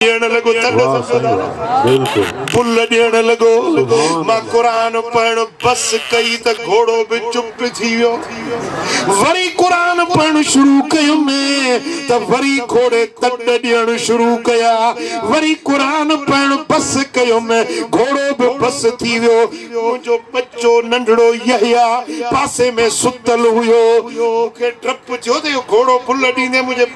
ڏيڻ لڳو تڏهن سمجهو ٿا نه بل ڏيڻ لڳو مان قرآن پڙهڻ بس ڪئي ته گهوڙو به چپ ٿي ويو وري قرآن پڙهڻ شروع ڪيم ته وري گهوڙي تڏ ڏيڻ شروع ڪيا وري قرآن پڙهڻ بس ڪيم گهوڙو به بس ٿي ويو منهنجو ٻچو ننڍڙو يحيٰ پاسي ۾ ستل هيو مون کي ڊپ ٿيو ته اهو گهوڙو بل ڏيندي منهنجي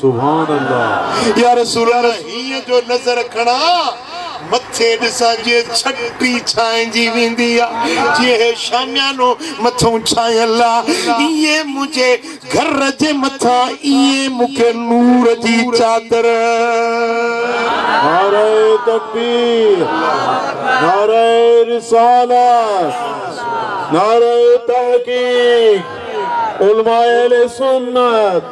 سبحان الله. يا رسول الله هينئن جو نظر کڻان مٿي ڏسان جي ڇٽي ڇانئجي ويندي آ جيئن هي شاميانو مٿئون ڇانيل آ ايئن منهنجي گهر جي مٿان ايئن مون کي نور جي چادر نعره تڪبير نعره رسالت نعره تحقيق علماء اهل سنت.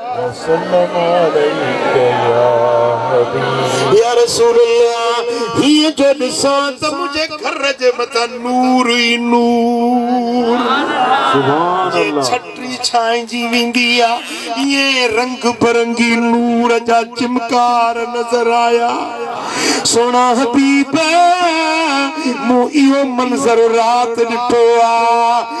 يا رسول الله هيء جو ڏسان ته منهنجي گهر جي مٿان نور ئي نور جيئن ڇٽي ڇائنجي ويندي آهي ائين رنگ برنگي نور جا چمڪار نظر آيا سهڻا حبيب مون اهو منظر رات ڏٺو آهي.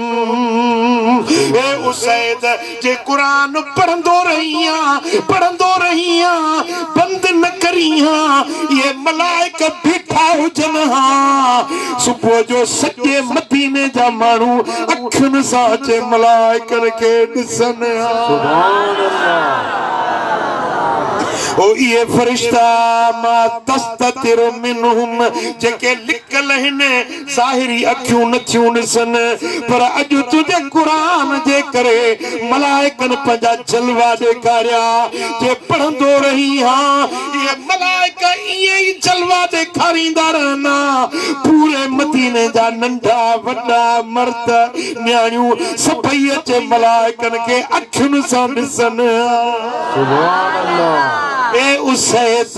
اي اسيد جي قرآن پڙهندو رهيان پڙهندو رهيان بند نه ڪريان اهي ملائڪ بيٺا هجن ها صبح جو سڄي مديني جا ماڻهو اکين سان اچي ملائڪن کي ڏسن ها سبحان الله هو اهي فرشتا ما تستتر منهم جيڪي لڪل هن ظاهري اکيون نٿيون ڏسن پر اڄ تنهنجي قرآن جي ڪري ملائڪن پنهنجا جلوا ڏيکاريا جي پڙهندو رهين ها اهي ملائڪ ائين ئي جلوا ڏيکاريندا رهندا پوري مديني جا ننڍا وڏا مرد نياڻيون سڀئي اچي ملائڪن کي اکين سان ڏسن ها اي اسيد!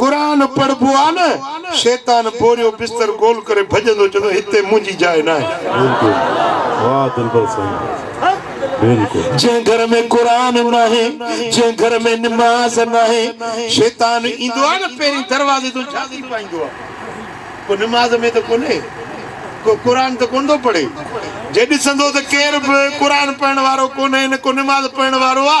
قرآن پڙهبو آ نه شيطان بوريو بستر گول ڪري ڀڄندو چوندو هتي منهنجي جاء ناهي. بلڪل واه دلبر سائين بلڪل. جنهن گهر ۾ قرآن ناهي جنهن گهر ۾ نماز ناهي شيطان ايندو آ نه پهرين دروازي تون جهاتي پائيندو آ ڪو نماز ۾ ته ڪونهي ڪو قرآن ته ڪونه ٿو پڙهي جي ڏسندو ته ڪير به قرآن پڙهڻ وارو ڪونهي نه ڪو نماز پڙهڻ وارو آ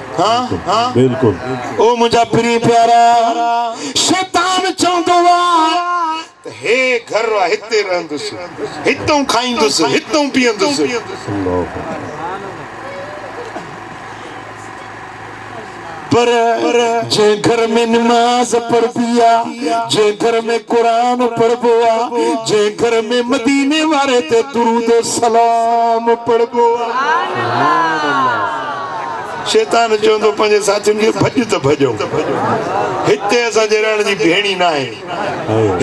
او منهنجا پرين پيارا شيطان چوندو آ ته هي گهر آ هتي رهندس هتئون کائيندس هتئون پيئندس پر جي گهر ۾ نماز پڙهبي آ جي گهر ۾ قرآن پڙهبو آ جي گهر ۾ مديني واري تي درود سلام پڙهبو آ شيطان چوندو پنهنجي ساٿين کي ڀڄ ته ڀڄئون هتي اسان جي رهڻ جي ڀيڻي ناهي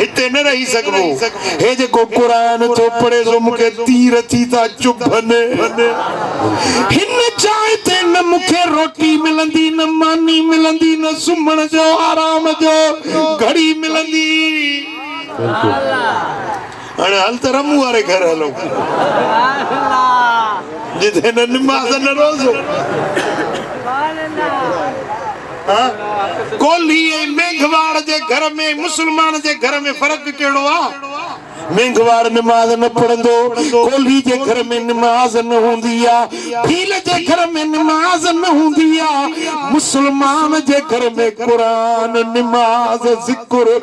هتي نه رهي سگهبو هي جيڪو قرآن ٿو پڙهي سو مون کي تير ٿي ٿا چڀن هن جاء تي نه مون کي روٽي ملندي نه ماني ملندي نه سمهڻ جو آرام جو گهڙي ملندي هاڻي هل ته رمون واري گهر هلون جتي نه نماز نه روزو ڪولهي ۽ مينگهواڙ جي گهر ۾ مسلمان جي گهر ۾ فرق ڪهڙو آ مينگهواڙ نماز نه پڙهندو ڪولهي جي گهر ۾ نماز نه هوندي آ ڀيل جي گهر ۾ نماز نه هوندي آ مسلمان جي گهر ۾ قرآن نماز ذڪر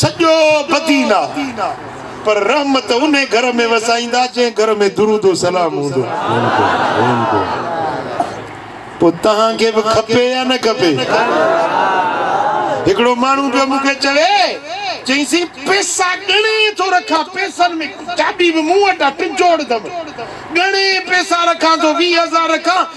سڄو ٻڌي نه پر رحمت انهي گهر ۾ وسائيندا جنهن گهر ۾ درود و سلام هوندو پوء توهان کي به کپي يا نه کپي هڪڙو ماڻهو پيو مون کي چوي چئيسين پيسا ڳڻي ٿو رکان پيسن ۾ چاٻي به مون وٽ آ ٽجوڙ اٿم ڳڻي پيسا رکان ٿو ويهه هزار رکان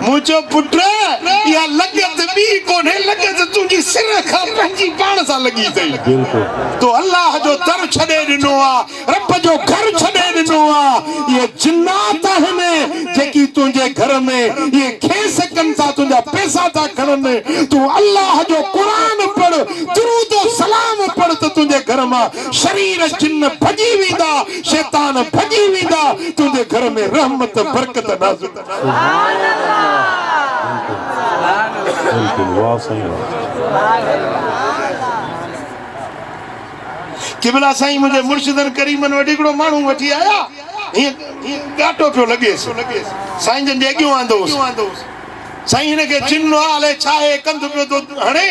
مون چيو، پٽ! اها لڳت ٻي ڪونهي، لڳت تنهنجي سر کان پنهنجي پاڻ سان لڳي اٿئي. تو الله جو در ڇڏي ڏنو آ، رب جو گهر ڇڏي ڏنو آ. اهي جنات آهن، جيڪي تنهنجي گهر ۾، اهي کيس ڪن ٿا، تنهنجا پئسا ٿا کڻن. تون الله جو قرآن پڙهه، درود و سلام پڙهه ته تنهنجي گهر مان شرير جن ڀڄي ويندا، شيطان ڀڄي ويندا، تنهنجي گهر ۾ رحمت، برڪت نازل. سبحان قبلا سائين منهنجي مرشدن ڪريمن وٽ هڪڙو ماڻهو وٺي آيا هيئن ڳاٽو پيو لڳيس سائين جن جي اڳيون آندو هوس سائين هن کي چنو آ الائي ڇا هي ڪنڌ پيو ٿو هڻي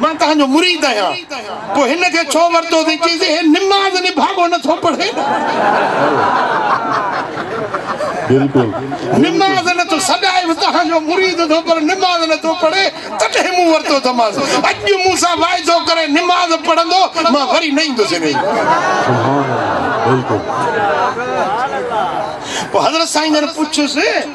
مان توهان جو مريد آهيان، پوء هن کي ڇو ورتو اٿئي؟ چيس ٿي، هي نماز نڀاڳو نه ٿو پڙهي. نماز نه ٿو سڏائي به توهان جو مريد اٿو پر نماز نه ٿو پڙهي، تڏهن مون ورتو اٿمانس. اڄ جو مون سان واعدو ڪري نماز پڙهندو، مان وري نه ايندس هن جي. پوء حضرت سائين جن پڇيس.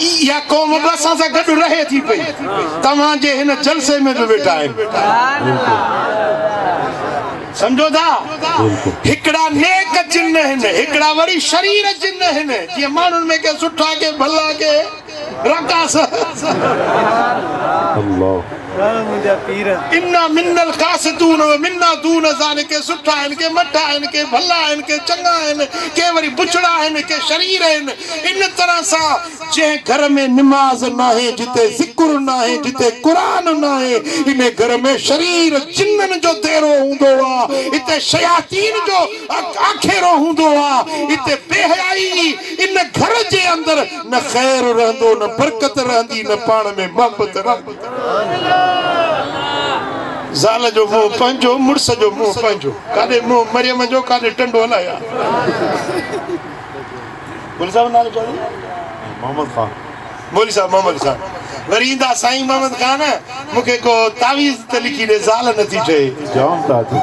اها قوم به اسان سان گڏ رهي ٿي پئي توهان جي هن جلسي ۾ به ويٺا آهن سمجھو ٿا هڪڙا نيڪ جن آهن هڪڙا وري شرير جن آهن جي ماڻهن ۾ ڪي سٺا ڪي ڀلا ڪي رقاص الله ڏاهه منهنجا پير. انا منا القاسطون و منا دون ذلک سٺا آهن ڪي مٺا آهن ڪي ڀلا آهن ڪي چڱا آهن ڪي وري بڇڙا آهن ڪي شرير آهن ان طرح سان جنهن گهر ۾ نماز ناهي جتي ذڪر ناهي جتي قرآن ناهي ان گهر ۾ شرير جنن جو ديرو هوندو آ اتي شياطين جو آکيرو هوندو آ اتي بي حيائي ئي ان گهر جي اندر نه خير رهندو نه برڪت رهندي نه پاڻ ۾ محبت رهندي. زال جو منهن پنهنجو مڙس جو منهن پنهنجو ڪاڏي منهن مريم جو ڪاڏي ٽنڊو الايا مولوي صاحب نالو چوي محمد خان مولوي صاحب محمد خان وري ايندا سائين محمد خان مونکي ڪو تعويذ ته لکي ڏي زال نٿي ٺهي جام تعويذ